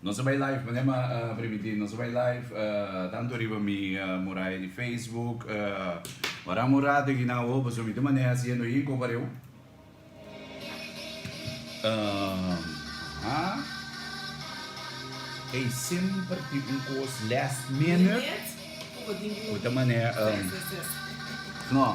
Nos a bai live mane ma primiti nos a bai live tanto riba mi muraya di facebook ora un rato aki nan awo pasobra mi ta maneha haciendo ahi ko pareu ey semper tin un kos last minute ku ta maneha no.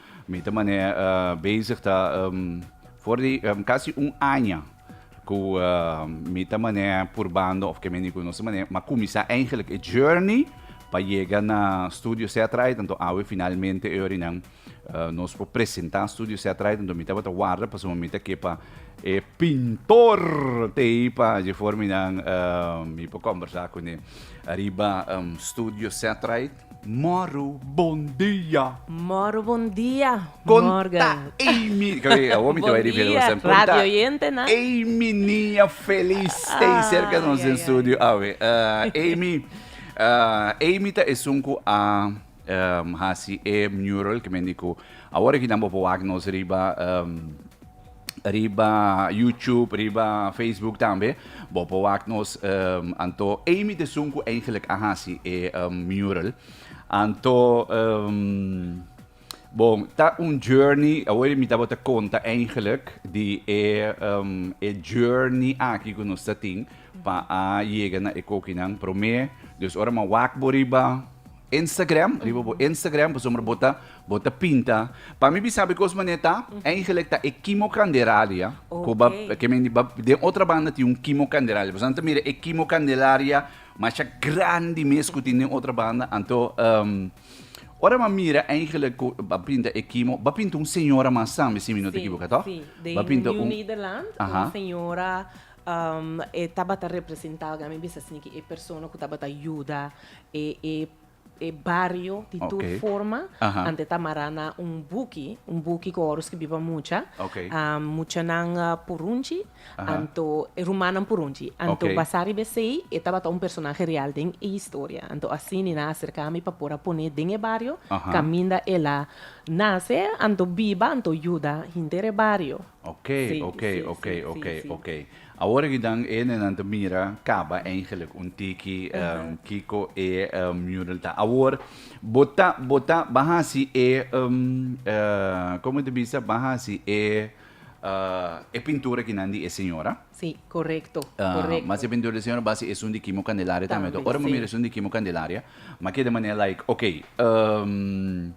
Mi ta mane bezig ta for di casi un aña cu mi ta mane purbando of ke mi niku no sa mane mi a cuminsa eigenlijk e journey pa yega na Studio Setright anto awe finalmente e orinan nos por presenta Studio Setright anto mi tabata warda pasobra mi ta ke pa e pintor tei pa dje for mi nan mi por combersa cune ariba Studio Setright Moro bon dia. Moro bon dia, Morgan. Konta Amy. Kabe, awor mi te bai ripiti Bon dia, Sam. Konta radio oyente, na? Amy Niña Feliz stay Ay, serka nos den ay, studio ay. awe. Eh, Amy, eh, Amy ta esun ku a em, hasi e mural ke men di ku awor e kinan bo por wak nos riba em, riba YouTube, riba Facebook tambe. Bo por wak nos anto Amy de Sun cu eigenlijk a haci e mural. Anto bon ta un journey, awor mi ta bo ta conta eigenlijk di e journey aki cu nos ta tin pa a yega na e cokinan prome. Dus ora mi a wak bo riba. Instagram riba bo Instagram pasobra bo ta bo ta pinta pa mi bisa be kos manera ta eigenlijk ta e Kimo Candelaria ku ba okay. ke men ba den otra banda tin un Kimo Candelaria pues nan ta mira e Kimo Candelaria masha grandi mes ku tin den otra banda anto um, ora ba mira eigenlijk ku ba pinta e Kimo ba pinta un señora mas tambe si mi no si, te ekivoka toch si. de ba pinta New un Nederland Aha. un señora um, e tabata representa mi bisa sneki e persona ku tabata yuda e bario di tur forma anto ta mará na un buki, un buki ku ora skibiba mucha, muchanan purunchi anto e rumannan purunchi, anto basá riba esei e tabata un personahe real den e historia, anto así mi nan aserká mi pa por a pone den e bario kaminda el a nase anto biba anto yuda henter e bario. Ok, Sí, ok, sí, ok, sí, ok, sí, sí. ok. Awor aki dan e nenan ta mira kaba eigenlijk un tiki Aha. em, kiko e em, mural ta. Awor, bo ta, bo ta, ban hasi e, em, eh, como te bisa, ban hasi e, ah, e pintura kinan di e señora. Sí, correcto, Ah, correcto. mas e pintura di señora basi esun di Kimo Candelaria tambe. Tambe, Ora bo sí. mira esun di Kimo Candelaria, ma keda manera like, ok, em,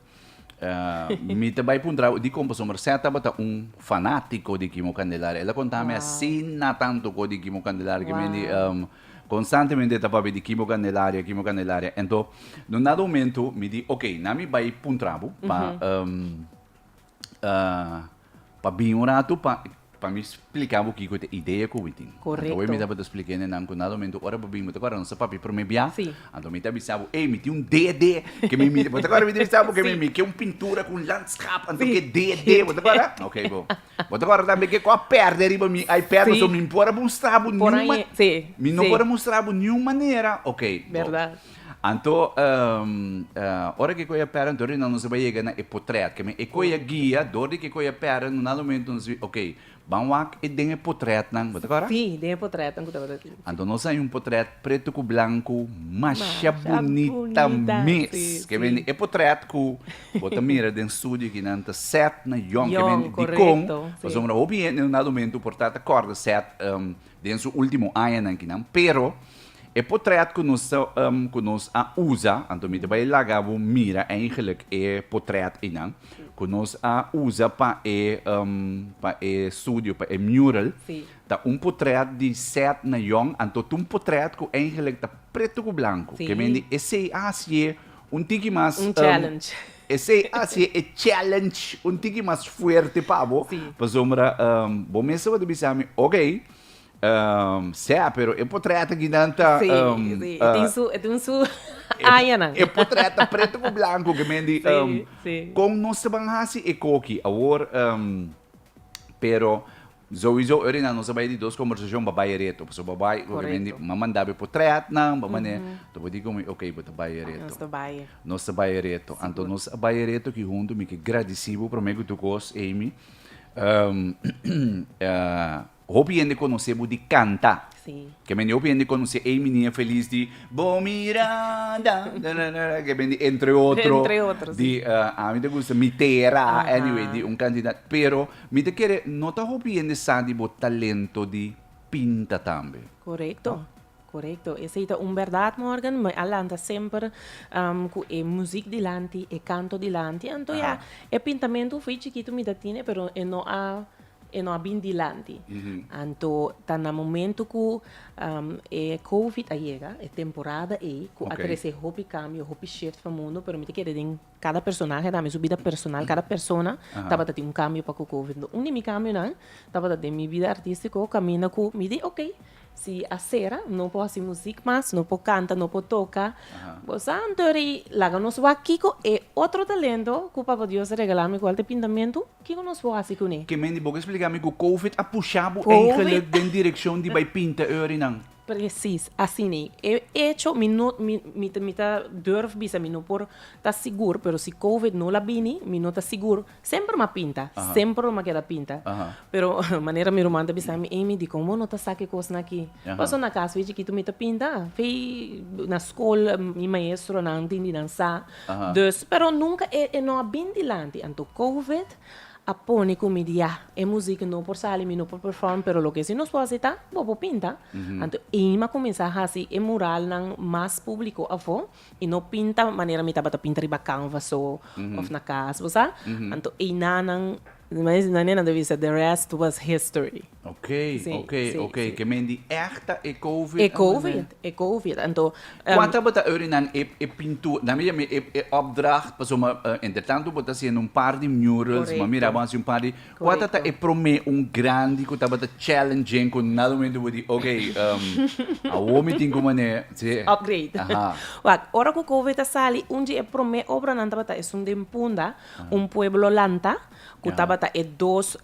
Mi ta bai puntra bo, di Compazon Marcet tabata un fanatico di Kimo Candelaria. Ela contami asina tanto co di Kimo Candelaria, cu mendi constantemente ta papia di Kimo Candelaria, Kimo Candelaria. Ento, un dado momento mi di, ok, na mi bai puntra bo pa Pa bini un ratu pa pa mi spliká bo kiko te idea ku mi tin. Anto awe mi tabata splikende nan ku nada momento ora bo bini bo ta kòrda nos a papia promé bia? Anto mi ta bisa bo ey mi tin un DD ke mi mira bo ta kòrda mi ta bisa bo ke mi mi ke un pintura ku un landskap anto ke DD bo ta kòrda? Ok bo bo ta kòrda tambe ke ku a pèrdè riba mi iPad pasobra mi por a mustra bo niun mi no por a mustra bo niun manera ok bo. Anto, ora ke koe a pera anto rinan nos a bai yega na e potret. Ke men e koe a guia dor di ke koe a pera no nan momento nos bai ok, ban wak e den e potretnan, bo ta kora? Sí, den e potretnan ku tabata tin. Anto nos a haña un potret preto ku blanku masha bunita mes. Ke men e potret ku bo ta mira den studio aki nan ta set na Yòn. Yòn, korekto. Pasobra hopi hende no nan momento por ta ta kòrda set den su ultimo añanan kinan, pero e potret ku nos ta ku nos a usa, anto mi ta bai laga bo mira eigenlik e potret einan ku nos a usa pa e pa e studio, pa e mural, ta un potret di Seth Nayon, anto ta un potret ku eigenlik ta pretu ku blanku, ke men di esei a hasié Un tiki mas. Un challenge. Esei a si e challenge un tiki mas fuerte pa bo. Sí. Pasobra bo mes tabata bisa mi, okey, sea, pero e potrèt aki nan ta. Sí, sí, e tin su, e tin su añanan. E potrèt ta preto ku blanku, ke men di, kon nos taban hasi e koki? Awor, pero Souizo ora nan nos a bai di dos kombersashon bo bai ereto pasobra bo bai obviamente bo manda bo por trèt nan bo manera ta bo di ku mi oke bo ta bai ereto nos ta bai nos ta bai ereto anto nos a bai ereto aki huntu mi ke gradisi bo promé ku tur kos Amy hopi hende konosé bo di kanta. Ke men di hopi hende konosé ei minia felis di Bo mira da dararara ke men di entre otro di ami ta gusta Mi Tera anyway di un kantidat pero mi ta kere no ta hopi hende sa di bo talento di pinta tambe. Korekto korekto esei ta un bèrdat Morgan mi a lanta semper ku e muzik dilanti e kanto dilanti anto ya e pintamentu fu ei chikitu mi ta tine pero e no a E no a bin dilanti. Anto ta na momento cu e covid a yega, e temporada ey, cu a trece hopi cambio, hopi shift pa mundo, pero mi ta kere den cada personahe dame su bida personal, cada persona tabata tin un cambio pa cu covid. Enton un di mi cambionan tabata den mi bida artistico caminda cu mi di ok, si a cera, no por haci muziek mas, no por canta, no por toca, boso a antori laga nos wak kico e otro talento cu Papa Dios a regalami, cual ta e pintamentu, Kico nos por haci cu ne? Kemendi bo ke splica mi cu covid a pusha bo eigenlijk den direccion di bay pinta e orinan? Precies asina e. E hecho mi no mi mi mi ta durf bisa mi no por ta sigur pero si covid no la bini mi no ta sigur semper ma pinta semper lo ma keda pinta pero manera mi ruman ta bisa mi Amy dikon bo no ta sa ke kosnan aki paso na cas fe chikito mi ta pinta fe na school mi maestronan tin di nan sa Dus, pero nunca e e no a bin dilanti, anto Covid a pone cu mi di ya, e music no por sali, mi no por perform, pero loke si nos por hasi ta, bo por pinta, anto ey mi a cuminsa hasi e muralnan mas publico afo, y no pinta manera mi tabata pinta riba canvas so, of na cas, bo sa, anto ey nanan Mes na nenan ta bisa the rest was history. Ok, ok, ok, ke men di èg ta e covid. E covid, e covid, anto. Kua tabata orinan e e pintura, nan mi yama e e opdracht, paso mi entre tanto bo ta hasiendo un par di murals, mi a mira bo a hasi un par di, kua tabata e promé un grandi ku tabata challenging ku nada momento bo di ok, awo mi tin ku manera si. Upgrade. Aha. Wak, ora ku covid a sali, un di e promé obranan tabata esun den punda. Un pueblo lanta, ku tabata e dos,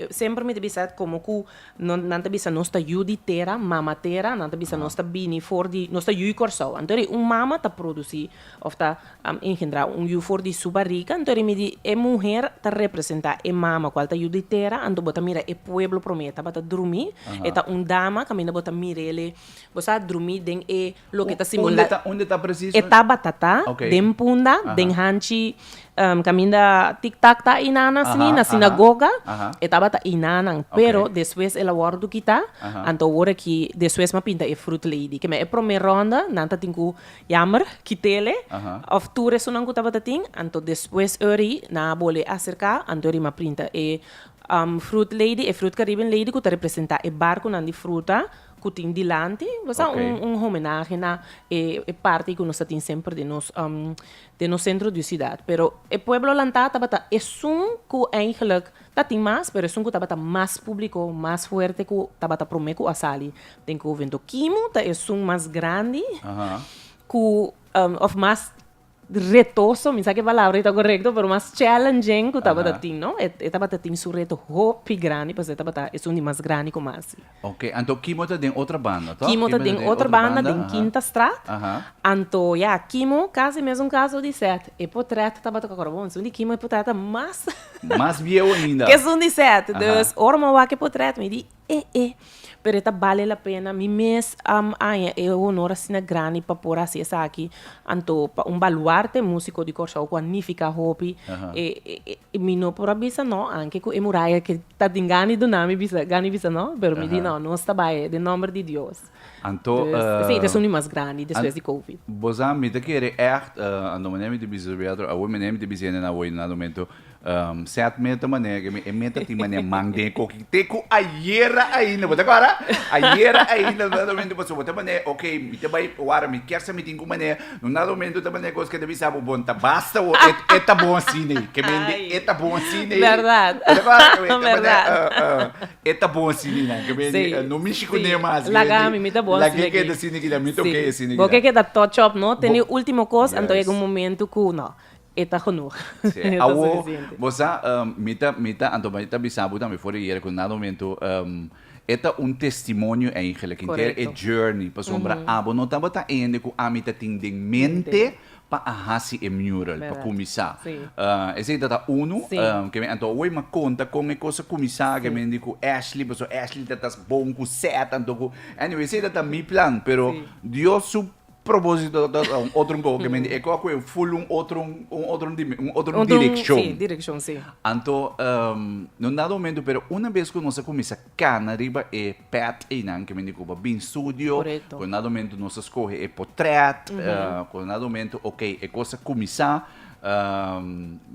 semper mi ta bisa komo ku nan ta bisa nos ta yu di tera, mama tera, nan ta bisa nos ta bini for di, nos ta yu Kòrsou. Anto ri un mama ta produsí òf ta engendrá un yu for di su barriga, anto ri mi di e muher ta representá e mama kual ta yu di tera, anto bo ta mira e pueblo promé tabata drumí, e ta un dama kaminda bo ta mir'ele, bo sa drumí den e. Loke ta simula. Unde ta presis? E tabata ta den punda, den hanchi kaminda tik tak ta einan asina na sinagoga, e tabata einanan. Pero despues el a wòrdu kita, anto awor aki despues m'a pinta e frut lady. Kema e promé rònda nan ta tin ku yamber kit'ele òf tur esunnan ku tabata tin, anto despues ori nan a bolbe a aserká, anto ori m'a printa e frut lady, e frut kariben lady ku ta representá e barkunan di fruta. ku tin dilanti, lo sa, un un homenahe na e e parti ku nos ta tin semper den nos den nos sentro di sidat. Pero e pueblo lantá tabata esun ku eigentlik ta tin mas, pero esun ku tabata mas públiko, mas fuerte ku tabata promé ku a sali den Covento. Kimu ta esun mas grandi ku òf mas retoso, mi sa ke palabra i ta korekto, pero mas challenging ku tabata tin, no? E, e tabata tin su reto hopi grandi, pasobra e tabata esun di mas grandi ku Marcy. Ok, anto Kimo ta den otro banda, toh? Kimo ta den otro banda, den Kinta Straat. Aha. Anto, ya, Kimo kasi mesun kaso di Seth. E potret tabata ku akorda, bon, esun di Kimo e potret ta mas. Mas biehu ainda. Ke esun di Seth. Aha. Dus, ora mi a wak e potret, mi di, e e pero e ta bale la pena mi mes a haña e honor asina grandi pa por a hasi esaki anto pa un baluarte musico di Kòrsou ku a nifiká hopi mi no por a bisa nò anke ku e muraya ke ta tin gana di duna mi bisa gana di bisa nò pero mi di nò nos ta bai den nòmber di Dios. Anto eh. Sí, ta suni mas grandi despues di Covid. Bo sa, mi ta kere ègt, anto manera mi ta bisa su Rialto, awor manera mi ta bisa hende nan awor na Lumento, sèt meta manera ke mi e meta tin manera man den koki. Te ku ayera ainda, bo ta kòrda? Ayera ainda lo na Lumento pasobra bo ta manera, oke, mi ta bai wòrdu, mi kier sa mi tin ku manera. Lo na Lumento ta manera kos ke ta bisa bo, bon, ta basta awor, e ta bon asin'ei. Ke mi hende e ta bon asin'ei. Bèrdat. Bo ta kòrda? Bo ta manera, eh, eh. E ta bon sini nan ke mi no mishi ku ne mas. Laga ami mi ta bon sini aki. Laga e keda sini kida mi ta oke e sini kida. Bo ke keda touch up no te ni ultimo kos anto yega un momento ku no e ta genoeg. Awo bo sa mi ta mi ta anto mi ta bisa bo tambe for di yere ku nada momento e ta un testimonio eigen like e journey pasobra abo no tabata eende ku ami ta tin den mente pa a hasi e mural pa kuminsá. Esei ta ta unu ke mi anto hoy m'a konta kon e kos a kuminsá ke mi di ku Ashley pasobra Ashley ta ta bon ku sèt anto ku anyway esei ta ta mi plan pero Dios su propósito ta ta un otro kohe ke mi di e kohe a kohe ful un otro un otro dimen un otro direkshon anto no nada momento pero una bes ku nos a kuminsá Cana riba e pet eynan ke mende cuba bin studio, cu na domento nos a scoge e potret, cu na domento ok e cos a cuminsa,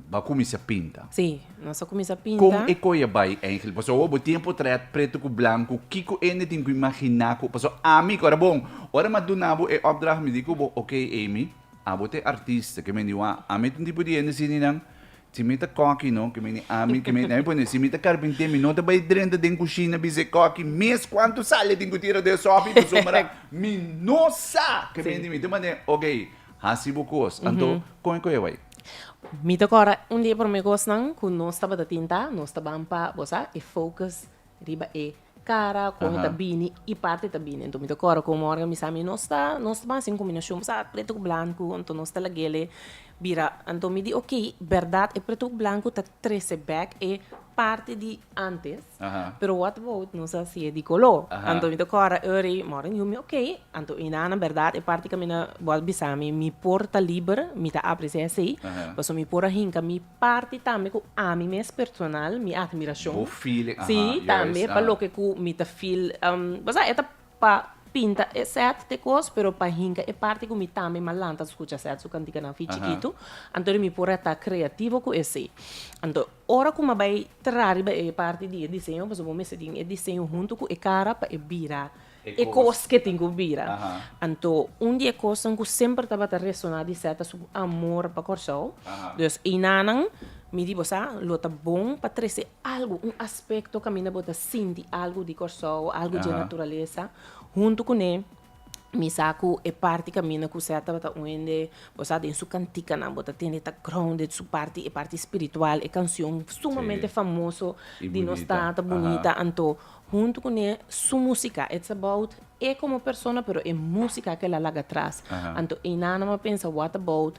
ba cuminsa pinta. Si, nos a cuminsa pinta. Con e coye bay eingel, pasobra awor bo tin e potret preto cu blanco, kico hende tin cu imagina cu, pasobra ami cu a bon, ora mi a duna bo e opdracht mi di cu bo, ok Amy, abo ta e artista ke mende wou a, ami tin tipo di hende asininan Si mi ta kòki no ke mene ami ke mene pone si mi ta karpintier mi no ta bai drenta den kushina bisei kòki mes kuantu sal e tin ku tira den sòpi pasobra mira mi no sa ke mene mi ta mane ok hasi bo kos anto kon ku e bai. Mi ta kòrda un di e prome kosnan ku nos tabata tinta nos ta ban pa bo sa e focus riba e kara ku mi ta bini i parti ta bini. Anto mi ta kòrda ku un mornan mi sa mi no sta no sta basa den kombinashon pasobra a pretu ku blanku anto no sta lagele bira. Anto mi di ok, bèrdat e pretu ku blanku ta trese bèk e parti di ántes pero what about nos a hasié di koló? Anto mi ta kòrda Eury mornan yumi ok anto e hinana bèrdat e parti ku mi na bo a bisa mi mi por ta liber mi ta apresiá esei pasobra mi por a hinka mi. parti tambe ku ami mes personal mi admirashon. Bo feeling, aha, juist, aha. Si, tambe pa loke ku mi ta feel, bo sa e ta pa pinta e sèt t'e kos, pero pa hinka e parti ku mi tambe m'a lanta skucha sèt su kantikanan fin chikitu, anto di mi por a ta kreativo ku esei. Anto, ora ku m'a bai traha riba e parti di e diseño, pasobra bo mester tin e diseño huntu ku e kara pa e bira. e kos ke tin ku bira. Anto un di e kosnan ku semper tabata resoná di Seth ta su amor pa Kòrsou. Dus einanan, mi di bo sa, lo ta bon pa trese algu, un aspekto kaminda bo ta sinti algu di Kòrsou, algu dje naturalesa, huntu kuné. Mi sa ku e parti kaminda ku Seth tabata un hende, bo sa, den su kantikanan bo ta tende ta grounded, su parti, e parti spiritual, e kanshon sumamente famoso di nos tata, bunita. Anto. Huntu cu ne su musica. It's about e como persona pero e musica cu el a laga atras. Anto einanan bo a pensa what about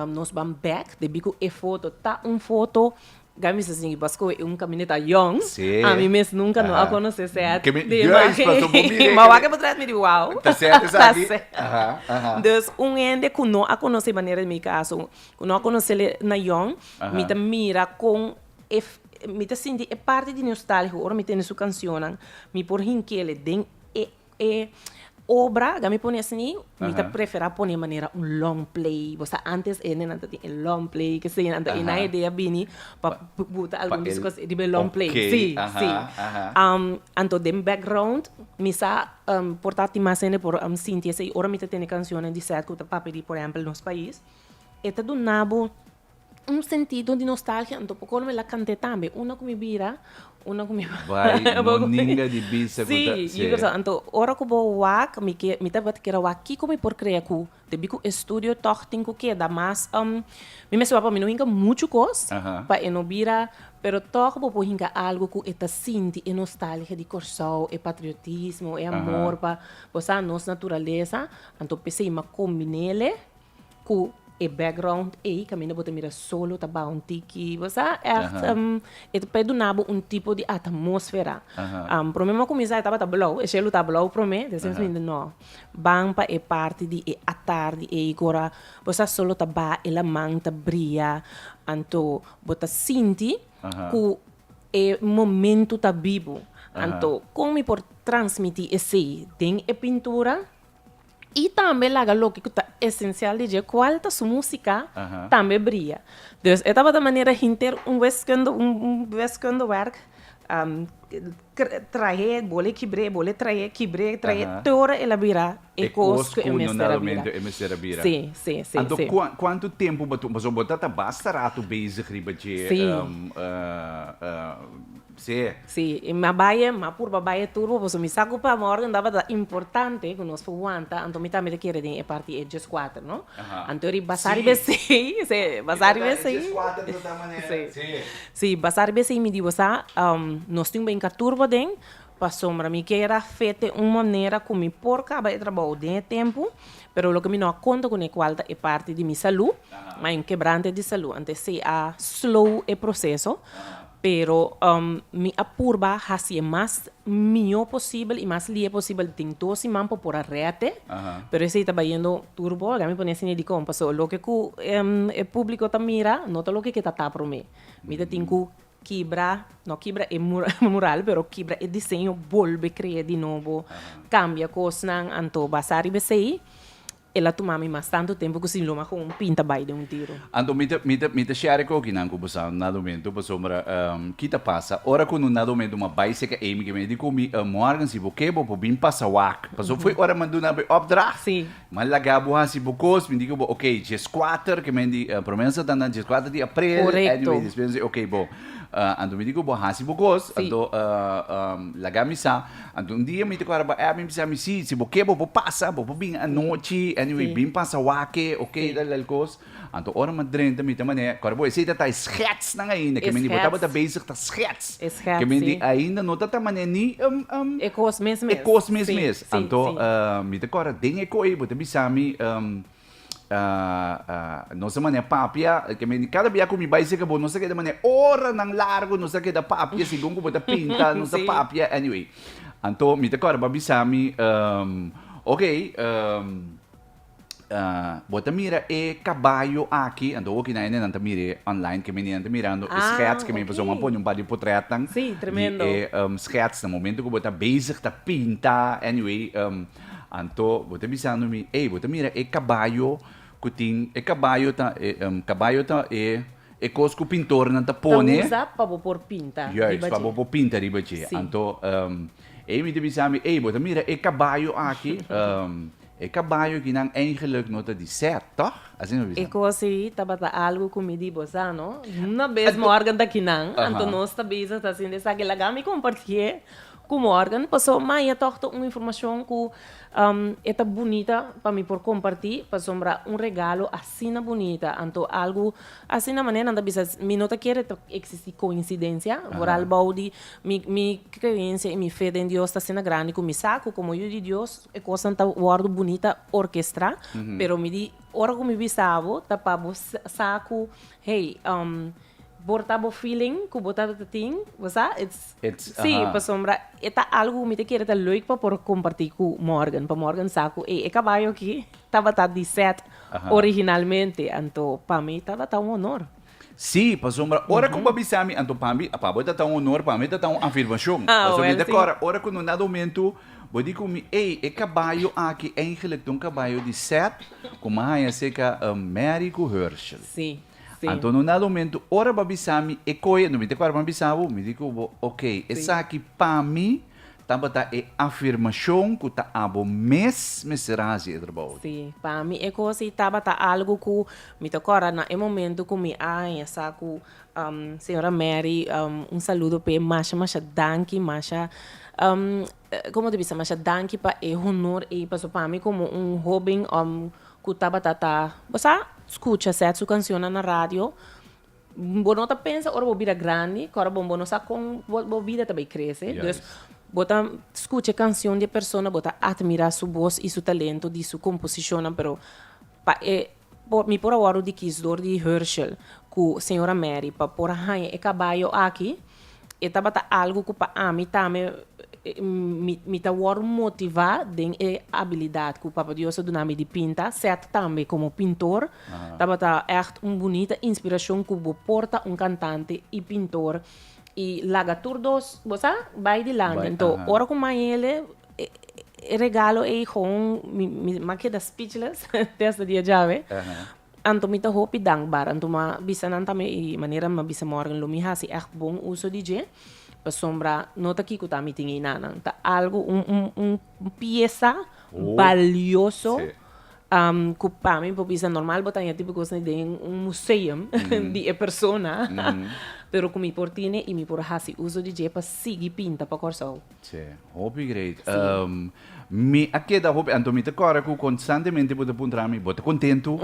nos ban back de bico e foto ta un foto. Ga mi bisa si Basco e un camineta yong. Ami mes nunca no a conoce Seth de imagen ey. Ma wak e bo trae mi di wow. Ta Seth esaki. Dus un hende cu no a conoce manera di mi caso, cu no a conocel na yong, mi ta mira con. Mi ta sinti e parti di nostálgico ora mi tende su cancionnan. Mi por hinkele den e e obra, ga mi pone asina, mi ta preferá pone manera un long play. Bo sa antes e hendenan tatin e long play, kese ei nan ta, e nan e dea bini pa buta algun di su kos riba e long play. Sí, sí. Anto den background mi sa por ta tin mas hende por sinti esei ora mi ta tende cancionnan di sèt ku ta papia di, por ehèmpel, Nos Pais. E ta duna bo. Un sentido di nostalgia anto por colo me la cante tambe una cu mi bira una cu mi bai no ninga di bisa cu ta si anto ora cu bo wak mi ke mi ta tabata kere wak kico mi por crea cu te bi cu estudio tog tin cu keda mas mi mester wak pa mi no hinca mucho cos pa e no bira pero tog bo por hinca algo cu e ta sinti e nostalgia di Kòrsou e patriotismo e amor pa bo sa nos naturalesa anto p'esei mi a combin'ele. Ku e background ei kaminda bo ta mira solo ta baha un tiki. Bo sa ègt e ta por duna bo un tipo di atmósfera. Promé mi a kuminsá e tabata blou, e shelu tabata blou promé. Despues mi binti, nò, ban pa e parti di e atardi ei ku ora bo sa solo ta baha e laman ta bria. Anto bo ta sinti ku e momentu ta bibu. Anto kon mi por transmití esei den e pintura? y tambe laga loke cu ta esencial di dje cual ta su musica tambe bria. Dus e tabata manera hinter un wiskunde un wiskunde werk trahe bole kibre bole trahe kibre trahe te ora el a bira e cos cu e mester a bira. Si, si, si, si. Anto cuantu tempo bo ta basta rato bezig riba dje Sea. Sí, i m'a baie, m'a purba baie tur bo paso mi sa cu pa mi orden daba ta importante cu nos por wanta, anto mi tambe ta kere den e parti e just cuater, no? Aha. Anto ri basa riba e seis, sí, basa riba e seis. E just cuater ta ta manera. Sí. Sí. Sí, basa riba e seis mi dibo sa, nos tin binca tur bo den, pasobra mi kier a fe te un manera cu mi por caba e trabou den e tempo, pero loke mi no a conta cu necual ta e parti di mi salud, ma e un kebrante di salud, anto esey a slow e proceso, Pero mi a purba hasi e mas mihó posibel i mas lihe posibel den tur siman pa por a rèt e. Pero esei ta bayendo tur bou, laga mi pone asina dikon, paso loke ku e públiko ta mira no ta loke ke ta ta promé. Mi ta tin ku kibra, no kibra e mural, pero kibra e diseño bolbe kre'é di nobo, kambia kosnan, anto basá riba esei. El a tuma mi mas tantu tempu ku sin luma ku un pinta bai den un tiro. Anto mi ta mi ta mi ta share e kokinan ku bosaun na domentu pasobra ki ta pasa ora ku no na domentu ma bai seka ei mi ke me di ku mi Morgan si bo ke bo por bin pasa wak pasobra foi ora mi a duna bo e opdracht Sí. mi a laga bo hasi bo kos mi di ku bo ok djes kuater ke men di promesa ta na djes kuater di aprel Korekto. anyway despues mi se ok bo anto mi di ku bo hasi bo kos Sí. anto laga mi sa. Anto un dia mi ta kora bo, eh, mi bisa mi si, si bo ke bo por pasa, bo por bin anochi, anyway bin pasa wake, ok, tal tal kos, anto ora mi drenta mi ta manera, kora bo esei ta ta e schetsnan ainda, ke men di bo tabata bezig ta schets, ke men di ainda no ta ta manera ni e kos mes mes, anto mi ta kora den e koe bo ta bisa mi. nos a manera papia cada bia cu mi bay seca bo nos a keda manera oranan largo nos a keda papia segun cu bo ta pinta nos ta papia anyway anto mi ta core bo a bisa mi ok bo ta mira e caballo aki anto hopi naene nan ta mira e online ke menen ta mirando e schets ke men pasobra mi a pone un par di potretnan di e schets na momento cu bo ta bezig ta pinta anyway Anto bo ta bisando mi, Ey, bo ta mira e cabayo cu tin, e cabayo ta, e, em, cabayo ta e, e cos cu pintornan ta Ta pone, usa pa bo por pinta riba juist, pa dje. bo por pinta riba dje. Sí. Anto, em, Amy ta bisa mi, Ey, bo ta mira e cabayo aki, em, e cabayo aki nan eigenlijk no ta di sèt, tòg? Asina bo bisa. E cos ey tabata algo cu mi di bo sa, no? Una bes Anto- morgan ta kinan, anto Aha. nos ta bisa ta haciendo esaki. Laga mi compartié Gumorgen, paso Maya tog ta un informacion cu e ta bunita pa mi por comparti, pasobra un regalo asina bunita, anto algo asina manera nan ta bisa mi no ta kere ta existi coincidencia, por albao di mi mi creencia y mi fe den Dios ta asina grandi cu mi sa cu como yu di Dios e cosnan ta wordo bunita orchestra, pero mi di ora cu mi bisa bo ta pa bo sa cu hey por ta bo feeling cu bo tabata tin, bo sa, ets. Sí, pasobra e ta algo ku mi ta kere ta leuk pa por kompartí ku Morgan, pa Morgan sa ku ey, e kabayo aki tabata di Seth originalmente, anto pa mi tabata un honor. Sí, pasobra ora ku bo a bisa mi, anto pa mi, pa bo e tabata un honor, pa mi e tabata un afirmashon. Pasobra mi ta kòrda ora ku no nada homentu, bo di ku mi, ey, e kabayo aki, eindelijk ta un kabayo di Seth, ku mi a haña aserka Mary ku Hershel. Sí. Anto no na lomentu ora bo a bisa mi e koe no mi ta kòrda pa mi bisa bo, mi di ku bo ok, esaki pa mi tabata e afirmashon ku ta abo mes mester a hasi e trabou aki. Si, pa mi e kos ei tabata algu ku mi ta kòrda na e momentu ku mi a haña sa ku señora Mary, un saludo p'e, masha masha danki, masha como te bisa masha danki pa e honor ey paso pa mi como un hoben cu tabata ta bo sa scucha set su cancionnan na radio bo no ta pensa ora bo bira grandi cu ora bo no sa con bo bida ta bay crece dus bo ta scucha e cancion di e persona bo ta admira su voz y su talento di su composicionnan pero pa e Por, mi por a wòrdu di kisdor di Herschel ku señora Mary pa por a haña e kabayo aki. E tabata algu ku pa ami tambe mi mi ta wòrdu motivá den e abilidat ku Papa Dios a duna mi di pinta, sèt tambe komo pintor. Tabata ègt un bunita inspirashon ku bo por ta un kantante i pintor i laga tur dos bo sa bai dilanti. Anto ora ku maña e e regalo ei gewoon mi, mi ma keda speechless te hasta dia djawe. Anto mi ta hopi dankbaar. Anto mi a bisa nan tambe e manera mi a bisa morgen lo mi hasi ègt bon uso di dje. Pasobra no ta kiko ta mi tin ei nanan. Ta algo, un, un, un piesa balioso ku pa mi mi por bisa normal bo ta haña e tipo kosnan den un museum di e persona, pero ku mi por tine i mi por hasi uso di dje pa sigui pinta pa Kòrsou. Tsé, hopi great. Sí. Um, mi a keda hopi, anto mi ta kore ku konstantemente bo ta puntra mi, bo ta kontentu,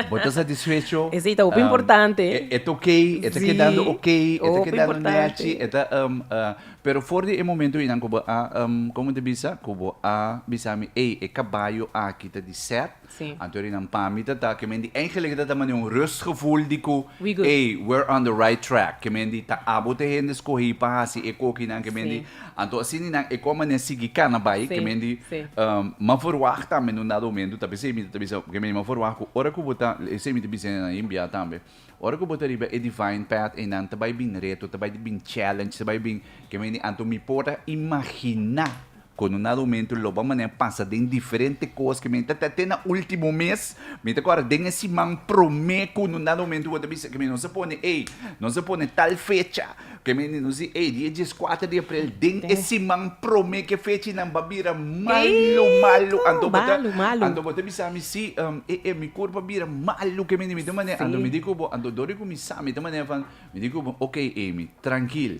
bo ta satisfecho. E si ta hopi um, importante. E, e ta okay, e ta sí. kedando okay, e ta kedando nechi, e ta um, uh, pero for di e momento inan ku bo a um, komo te bisa, ku bo a bisa mi, ey, e kabayo aki ta di set. Sí. Anto ri nan pami ta ta ke men di eindelijk het het ta mane un rustgevoel di ku We good. ey, we're on the right track. Ke men di ta abo te hende skohi pa hasi e kokinan ke men di Sí. anto asini nan e kon mane sigui kana bai ke Sí, men di sí. ehm, m'a verwacht tambe en un dado momento, tal vez esei mita ta bisa, ke men di m'a verwacht ku ora ku bo ta, esei mita bisa nan yin bia tambe. Ora ku bo ta riba e divine path einan ta bai bin reto, ta bai bin challenge, ta bai bin ke men di anto mi por a imaginá kon un nada un momento lo bo manera pasa den diferente kos ke men ta ta te na ultimo mes, mi ta kòrda den e siman promé kon un nada un momento bo ta bisa ke mi nos a pone ey nos a pone tal fecha, Ke meninos di ei di e dieskuater di aprel den e siman promé ke fechinan ba bira malu malu anto bo ta anto bo ta bisa mi si e e mi kurpa bira malu ke meninos mi ta manera anto mi di ku bo anto dor di kuminsá mi ta manera van mi di ku bo oke Amy trankil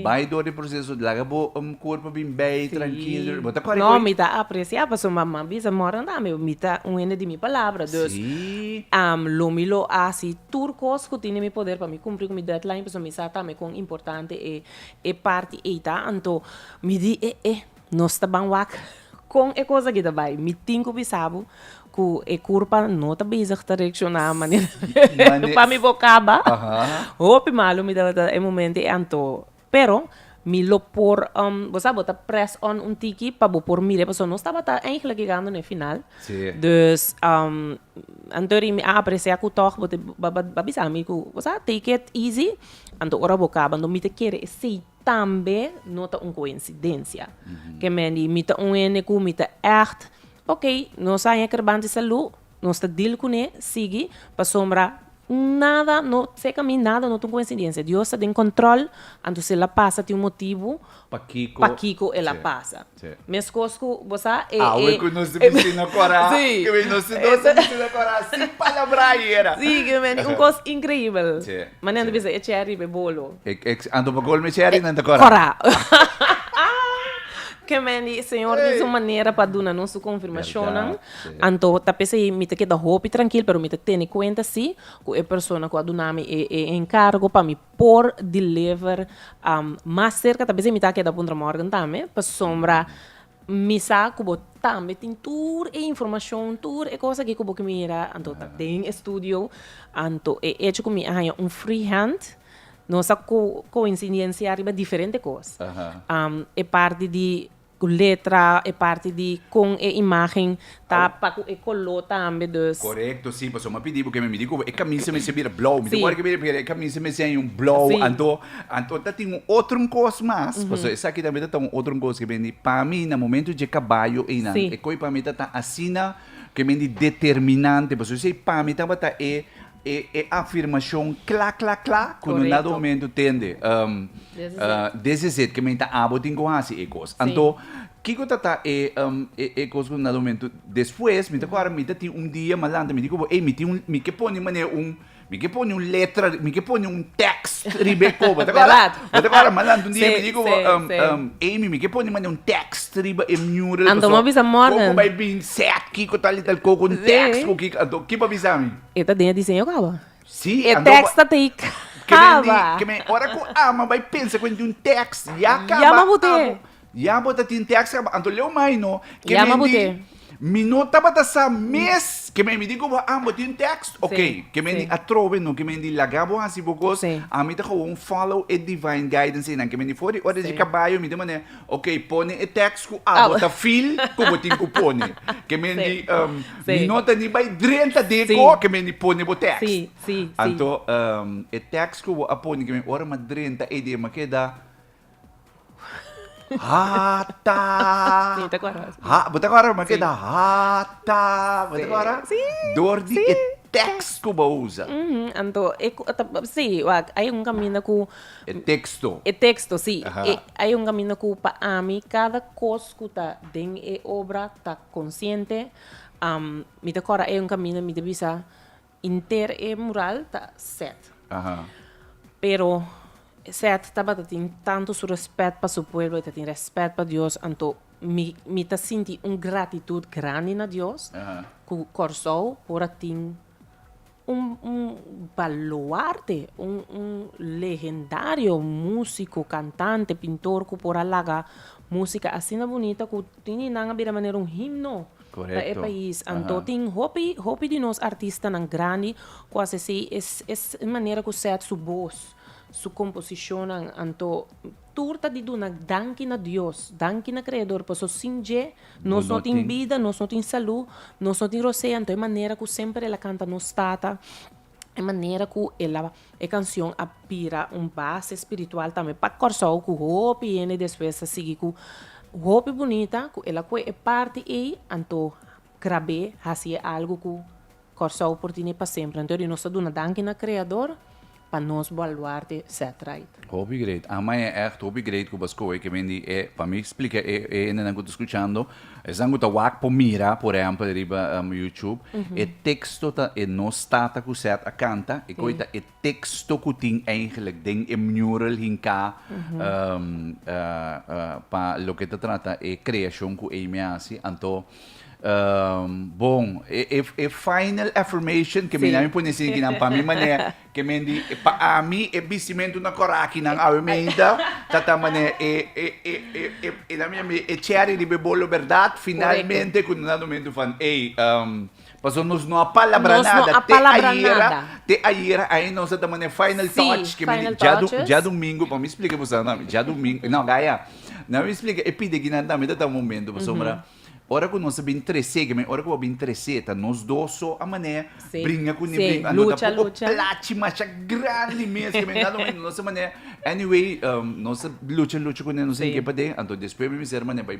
bai dor di proseso laga bo kurpa bin bei trankil bo ta kore no mi ta apresiá pasobra mama bisa mornan tambe mi ta un hende di mi palabra dus lo mi lo hasi Tur kos ku tin den mi poder pa mi kumpli ku mi deadline pasobra mi sa tambe kon importante e e parti ei ta anto mi di e e nos ta ban wak kon e kos aki ta bai mi tin ku bisa bo ku e kurpa no ta bezig ta reakshoná manera pa mi bo kaba hopi malu mi tabata e momento ei anto Pero mi lo por bo sa bo ta press on un tiki pa bo por mire pasobra nos tabata eigenlijk yegando na e final dus anto ri mi a aprecia ku tog bo a bisa mi ku bo sa take it easy anto ora bo kaba anto mi ta kere esei tambe no ta un coincidencia kemen di mi ta un hende ku mi ta echt okay nos a hekr banti salud Nos ta deal kuné sigui pasobra nada no seka mi nada no ta un koinsidensia Dios ta den kontròl antus el a pasa tin un motibu pakiko el a pasa meskos ku bo sa e Awe ku nos ta bisti na kora kimin nos tu dos ta bisti na kora sin palabra ayera si kimin un kos inkreibel ma nan ta bisa e cheri be bolo anto bo kol mi cheri nan ta kora kora kimin di señor di su manera pa duna nos su konfirmashonnan. Anto ta p'esei mi ta keda hopi trankil, pero mi ta tene kuenta si ku e persona ku a duna mi e e enkargo pa mi por deliver mas serka, ta p'esei mi ta keda Punta Morgan tambe, pasobra mi sa ku bo tambe tin tur e informashon, tur e kos aki ku bo ke mira, anto ta den e studio, anto e echo ku mi a haña un free hand nos a ko-koinsidensia riba diferente kos e parti di. Ku letra, e parti di kon e imágen ta pa ku e koló tambe, dus. Korekto, si, pasobra mi a pidi bo ke mi mira ku e kamisa mester bira blou. Mi tin ora ke mi mira e kamisa mester hay un blou. Si. Anto, anto ta tin un otro kos mas, pasobra esaki tambe ta ta un otro kos ke bini. Pa mi na momento dje kabayo einan, Si. e koi pa mi ta ta asina ke bini determinante, pasobra esei pa mi tabata e. E e afirmashon kla kla kla ku no na do mentu tende desizet ke men ta abo tin ku hasi e kos. Anto kiko ta ta e e kos ku no na do mentu despues mi ta kòrda mi ta tin un dia mas lanta mi di ku bo ey mi tin un mi ke pone manera un mi ke pone un letra mi ke pone un tèks riba e koba ta kòrda? Bo ta kòrda mas lanta un dia mi di ku bo Amy mi ke pone manera un tèks riba e mur la paso koko bai binse kiko tal i tal koko un tèks ku kiko anto kipa bisa mi? E ta den e diseño kaba. Sí, E ando tekst ta tei Ke men di, kaba. ke men ora ku Alma bai pensa ku en tin un tekst ya kaba. Ya mabut'é. abo, ya bo ta tin tekst kaba. Anto leu mai no. Ke Ya men di, mabut'é. mi no tabata sa mes, ke men mi di ku bo, Alma bo tin un tekst? Sí, Oké. Ke men sí. di, atrobe no, ke men di laga bo hasi bo kos. Sí. Ami ta kaua un follow e divine guidance einan. Ke men di for di órdenes di Sí. kabayo mi ta manera Ok, pone e teks ku abo ta fil ku bo tin ku pone. Ke men di, mi no ta ni bai drenta deko ke men di pone bo teks. Anto, e teks ku bo a pone ke men ora mi a drenta ei di e makeda, hata, bo ta kora? Makeda hata, bo ta kora? Dor di e teks ku bo a usa. Anto, si, wak, ai un kaminda ku E teksto. E teksto, sí. E ai un kaminda ku pa ami kada kos ku ta den e obra ta konsiente. Mi ta kòrda ai un kaminda mi ta bisa henter e mural ta sèt. Pero sèt tabata tin tantu su rèspèt pa su pueblo, e ta tin rèspèt pa Dios. Anto mi mi ta sinti un gratitut grandi na Dios ku Kòrsou por a tin. Un baluarte, un legendario músiko, kantante, pintor ku por a laga músika asina bunita ku Tini nan a bira manera un himno pa e pais. Anto tin hopi, hopi di nos artistanan grandi ku a sesei es manera ku sèt su bos, su komposishonnan. Anto Tur ta di duna danki na Dios, danki na Kreador, paso sin dje nos no tin bida, nos no tin salú, nos no tin rosé, anto e manera ku semper el a kanta nos Tata, e manera ku el a e kanshon a bira un base spiritual tambe pa Kòrsou ku hopi hende despues a sigui ku hopi bunita ku el a kue e parti ei, anto grab'é hasié algu ku Kòrsou por dini pa semper anto di nos ta duna danki na Kreador pa nos baluarte Setright. Hopi great Ama e echt hopi great ku baskoe ke men di e pa mi splika e e hendenan ku ta skuchando esnan ku ta wak por mira por ehèmpel riba youtube e teksto ta e nos tata ku sèt a kanta e koi ta e teksto ku tin eigentlik den e mural hinká pa loke ta trata e kreashon ku Amy a hasi, anto bon e final affirmation ke mira mi pone esei aki nan pa mi manera ke men di pa ami e bistimentu na korakinan awemeida tata manera e cherry riba e bolo bèrdat finalmente ku nan ta dumintu van ey. Paso nos no a palabra nada te ayera, te ayera ay nos a ta mane final touch, ke mi di dja domingo, pa mi splika e bosa nan, dja domingo, no gaya, nan mi splika e pidi aginan ta mita ta momento, pasobra ora ku nos a bin trese, ke mi ora ku bo a bin trese ta nos dos so a mane bringa ku ni bringa, no ta poko plachi masha grandi mes, ke mi dado momento nos a mane, anyway, nos a lucha lucha ku nan, nos a yega paden, anto despues mi mester mane bai.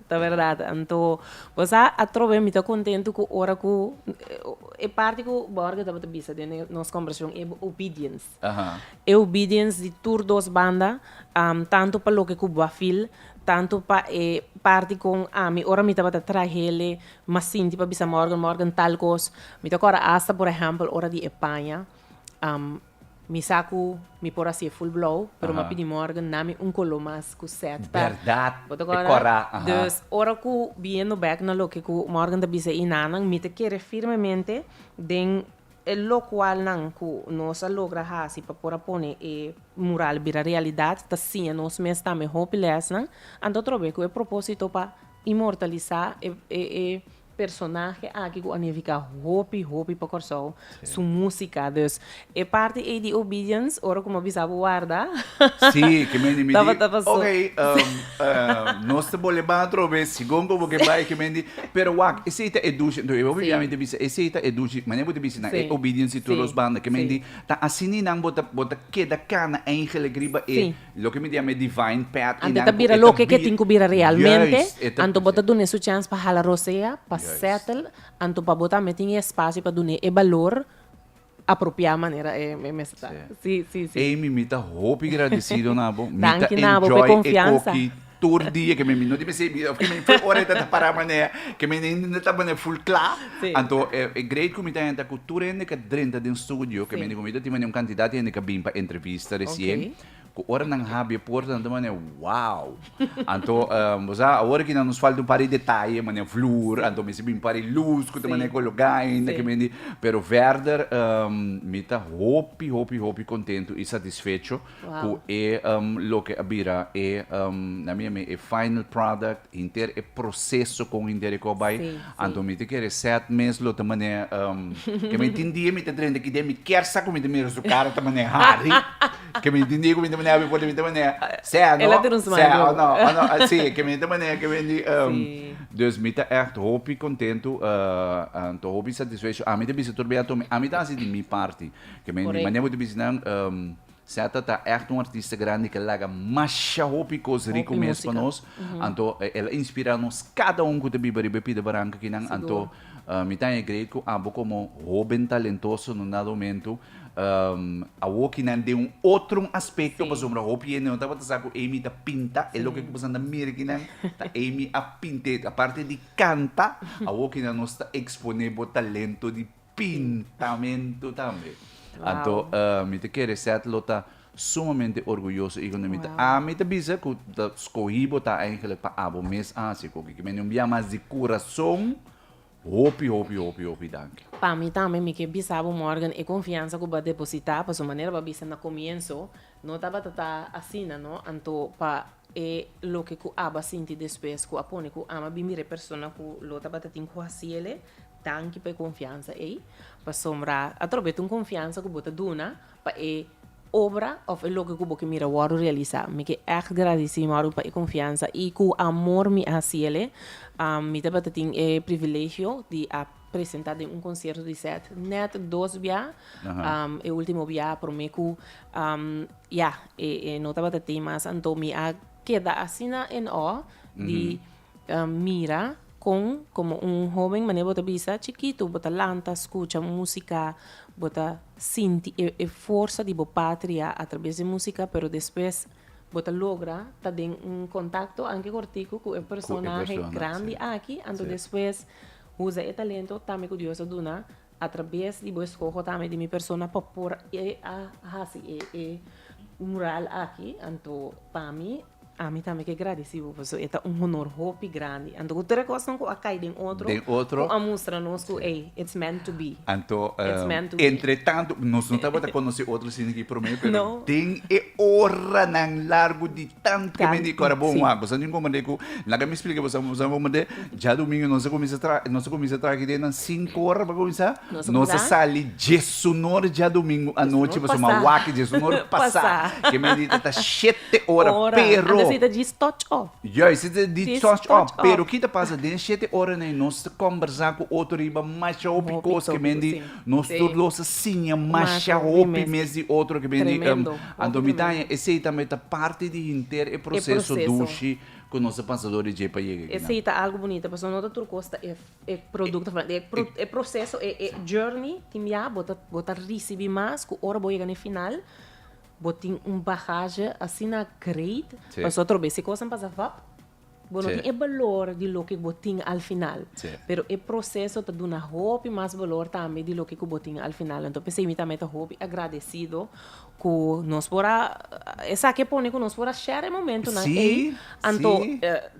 Ta berdad, anto bo sa atrobe mi ta contentu cu ora cu e parti cu Borge tabata bisa den e nos conversacion e obedience, e obedience di tur dos banda, tanto pa loke cu bo a feel, tanto pa e parti con ami ora mi tabata trahele m'a sinti pa bisa Morgan, Morgan tal cos, mi ta cora hasta por ehempel ora di e paña, Mi sa cu mi por haci'e full blauw, pero m'a pidi morgen nami un color mas cu set ta. Berdad, bo ta corda? Verdad, e cora, aha. Dus, ora cu biendo bek na loke cu Morgan ta bisa e nannan, mi ta kere firmemente den e locual nan cu nos a logra haci pa por a pone e mural bira realidad, ta siña nos mes tambe hopi lesnan, anto atrobe cu e proposito pa inmortaliza e personahe aki ku a nifiká hopi hopi pa Kòrsou, su músika. Dus e parti ei di Obedience, ora ku mi a bisa bo warda, tabata pasó. Sí, ke men di, okey, nos ta bol'e bai atrò bes, si Gomko bo ke bai, ke men di. Pero wak, esei ta e dushi, entonces e hopi biamen ta bisa, esei ta e dushi, manera ku bo ta bisa nan, e Obedience i tur los banda, ke men di, ta asina nan bo ta keda kana, eingelik, riba e Loke mi di ama e divine path i nan ku e ta bira. Anto e ta bira loke ke tin ku bira realmente, anto bo ta dun'é su chèns pa hala rosea, pa settle, anto pa bo tambe tin e espasio pa dun'é e balor apropiá manera e mester ta. Sí, sí, sí. Ei mimi ta hopi gradesido na bo. Mi ta enjoy e koki. Tur dia ke men mi no tin p'esei bida, òf ke men fue ora e ta ta pará manera ke men hende no ta manera ful kla, anto e e greit ku mi ta henta ku tur hende ke drenta den studio, ke mi hende ku mi ta tin manera un kantidat hende ke bin pa entrevista resien, ku ora nan habri e porta nan ta manera wow! Anto bo sa awor aki nan nos falta un par di detaye manera vloer, anto mester bin un par di lus ku ta manera kologá ainda ke mi hende, pero verder mi ta hopi, hopi, hopi kontentu i satisfecho ku e loke a bira e, na mi ami, e final product, henter e proseso kon henter e kos bai. Anto mi ta kere sèt mes lo ta manera ke mi tin dia mi ta drenta ki dia mi kier sa ku mi ta mira su kara ta manera hari, ke mi tin dia ku mi ta manera abi for mi ta manera sè a no, sè a no, a no, si, ke mi ta manera ke men di Dus mi ta ègt hopi kontentu, anto hopi satisfecho. Ami ta bisa tur bai ato mi, ami ta hasi di mi parti. Ke men di manera bo ta bisha nan Seta ta echt un artista grandi ke laga masha hopi kos rico mes pa nos anto el a inspira nos kada un ku ta biba riba e pida baranka aki nan anto mi ta e grei ku abo komo hoben talentoso no nada momento awoki nan den un otro aspekto pasobra hopi hende no tabata sa ku Amy ta pinta e loke ku pasan ta mira aki nan ta Amy a pinta aparte di kanta awoki nan nos ta ekspone bo talento di pintamentu tambe. Anto mi ta kere Seth lo ta sumamente orguyoso i kuande mi ta a mi ta bisa ku ta skohi bo ta eingelik pa abo mes a hasi koki. Ke me no bia mas di kurason hopi hopi hopi hopi danki. Pa mi tambe mi ke bisa bo Morgan e konfiansa ku bo a depositá pasobra manera bo a bisa na komienso no tabata ta asina no anto pa E loke ku Abba sinti despues ku a pone ku ama bin mira e persona ku lo tabatatin ku hasi el e tanki pa e konfiansa ei, pasobra atrobes di un konfiansa ku bo ta duna pa e obra òf e loke ku bo ke mira wòrdu realisá. Mi ke ègt gradisí mi wòrdu pa e konfiansa i ku amor mi a hasi el e. Mi tabata tin e privilegio di a presenta den un concierto di set net dos bia e ultimo bia prome cu ya e no tabata tey mas anto mi a keda asina en awe di mira con como un hoben manera bo ta bisa chikito bo ta lanta scucha musica bo ta sinti e forsa di bo patria a traves di musica pero despues bo ta logra ta den un contacto anke cortico cu e personahe grandi aki anto despues Usa e talento tambe ku Dios a duna atrabes di bo eskoho tambe di mi persona pa por e a hasi e mural aki anto pa mi ami tambe ke gradisi bo paso e ta un honor hopi grandi anto ku tur e kosnan ku a kai den otro Den otro ku a mustra nos ku ey it's meant to be anto it's meant to be entretanto nos no tabata konosé otro sino ki promé pero den e oranan largu di. tant ke medi kor bo wan bosa nin komand'é ku laga mi splika bosa bosa komand'é djadumingu nos a kuminsa tra nos a kuminsa traha ki dia nan sinku ora pa kuminsá nos a sali djesunor djadumingu anochi boso ma wak djesunor pasá ke medi ta ta shete ora pero anda si ta di stòch òf yòs si ta di stòch òf pero ki ta pasa den e shete oranan nos ta kòmbersá ku otro riba masha hopi kos ke medi. Nos tur lo sa siña masha hopi mes di otro ke bini anto mi ta haña esei tambe ta parti di henter e proseso dushi ku nos a pasa dor di dje pa yega aki nan. Esei ta algu bunita pasobra no ta tur kos ta e produkto e proseso e journey tin bia bo ta bo ta risibi mas ku ora bo yega na e final bo tin un bagaje asina great pasobra otro bes e kos nan pasa vap Bo no tin e balor di loke ku bo tin al final. Pero e proseso ta duna hopi mas balor tambe di loke ku bo tin al final. Anto p'esei mi tambe ta hopi agradesido ku nos por a, esaki a pone ku nos por a share e momentunan ei, anto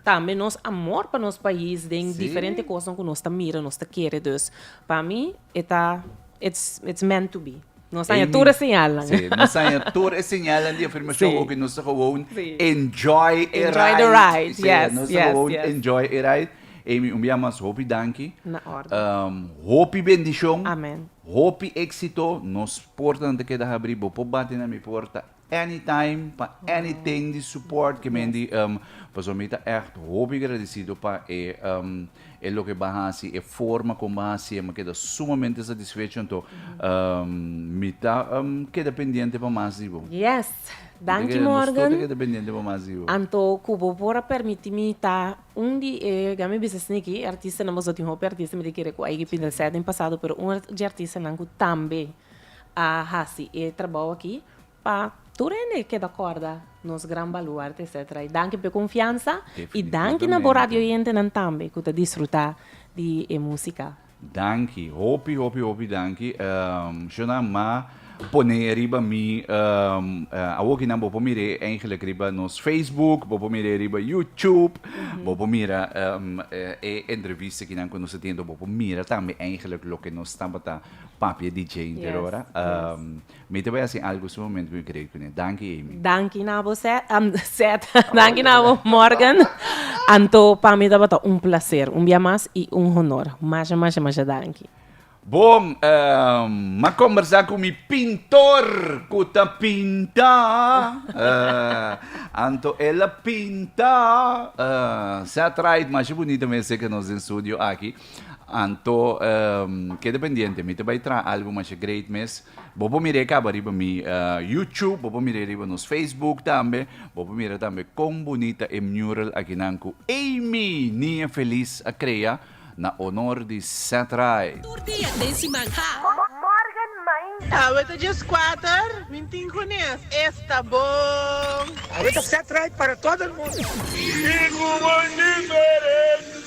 tambe nos amor pa nos pais den diferente kosnan ku nos ta mira, nos ta kere. Dus pa mi e ta, it's meant to be. Nos haña tur e señalnan. Sí, nos haña tur e señalnan di afirmashon oke. Nos ta gewoon enjoy e ride. Sí, nos ta gewoon enjoy e ride. Amy, un bia mas hopi danki. Na orde. Hopi bendishon. Amen. Hopi éksito. Nos portanan ta keda habrí. Bo por bati na mi porta Anytime pa anything di support ke men di em pasobra mi ta echt hopi gradecido pa e em e loke ba hasi e forma kon ba hasi e mi keda sumamente satisfecho anto em mi ta em keda pendiente pa mas di bo. Yes, danki Morgan. Nos tur ta keda pendiente pa mas di bo. Anto ku bo por a permiti mi ta un di e ga mi bisa sniki e artistanan boso tin hopi artista mi ta kere ku a yega pinta sèt den pasado pero un di artistanan ku tambe a hasi e trabou aki pa tur hende keda kòrda nos gran baluarte etsetera. I danki pa e konfiansa i danki na bo radio oyentenan tambe ku ta disfrutá di e músika. Danki, hopi hopi hopi danki. Shona m'a pone riba mi awor kinan bo por mir'é eigenlik riba nos Facebook, bo por mir'é riba YouTube, bo por mira e entrevista kinan ku nos a tenido, bo por mira tambe eigenlik loke nos tabata Papia di djente Yes, ora. yes. Mi ta bai hasi algu sumamente cu mi cree cu ne. Danki, Amy. Danki na bo Seth, am, Seth, danki na bo Morgan. Anto pa mi tabata un placer, un bia mas y un honor. Masha, masha, masha danki. Bon, ehm, m'a combersa cu mi pintor cu ta pinta, eh, anto el a pinta, eh, Seth Wright, masha bunita mester ca nos den studio aki. Anto keda pendiente, mi ta bai traha algo masha great mes. Bo por mira e caba riba mi YouTube, bo por mira riba nos Facebook tambe, bo por mira tambe con bunita e mural akinan cu Amy Niña Feliz a crea na honor di Seth Rai. Tur dia den siman, ha! Morgen mainta. Awe ta dies kuater, mi tin hunes, esta bon. Awe ta Seth Rai para todo el mundo. Rico, bonito e res.